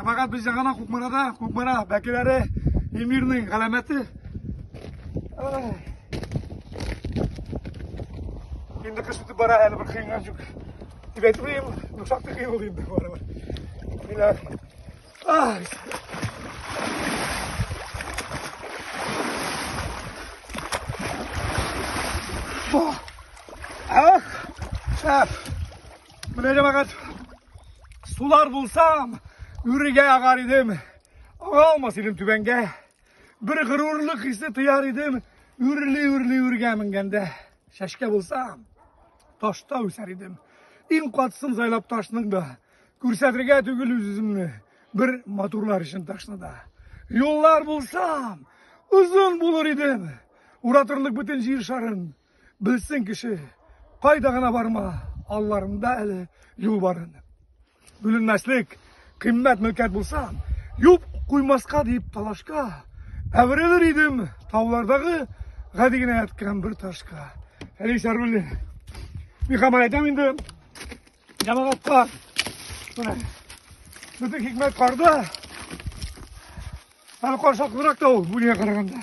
Фәкать бездә гына Кукмарада, Кукмара бәкеләре эмирнең галәмәте. Инде кыш үтеп бара, әле бер кыйнган юк. Дип әйтмим, ну шактый кыйн булды инде бара. Диләр. Ай. Ах! Ах! Менә җәмәгать Сулар булсам, үрегә агар идем. Аңа алмас идем түбәнгә. Бер горурлык хисе тояр идем, үрли-үрли үргә менгәндә. Шәшкә булсам, ташта үсәр идем. Иң катысын сайлап ташның да, күрсәтергә түгел үз-үземне, бер матурлар өчен ташны да. Юллар булсам, озын булыр идем, уратырлык бөтен җир шарын. Белсен кеше, кайда гына барма, алларында әле юл барын. Бүленмәслек, кыйммәт мөлкәт булса, юп куймаска дип талашка, әверелер идем таулардагы гади генә яткан бер ташка. Әлис Аруллин. Мин хамар әйтәм инде җәмәгатькә. Менә. Бөтен хикмәт карда. Әле каршаклырак та ул, бүлгә караганда.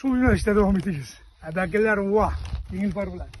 Шул юнәлештә дәвам итегез. Ә бәкеләр уа, еңел пар белән.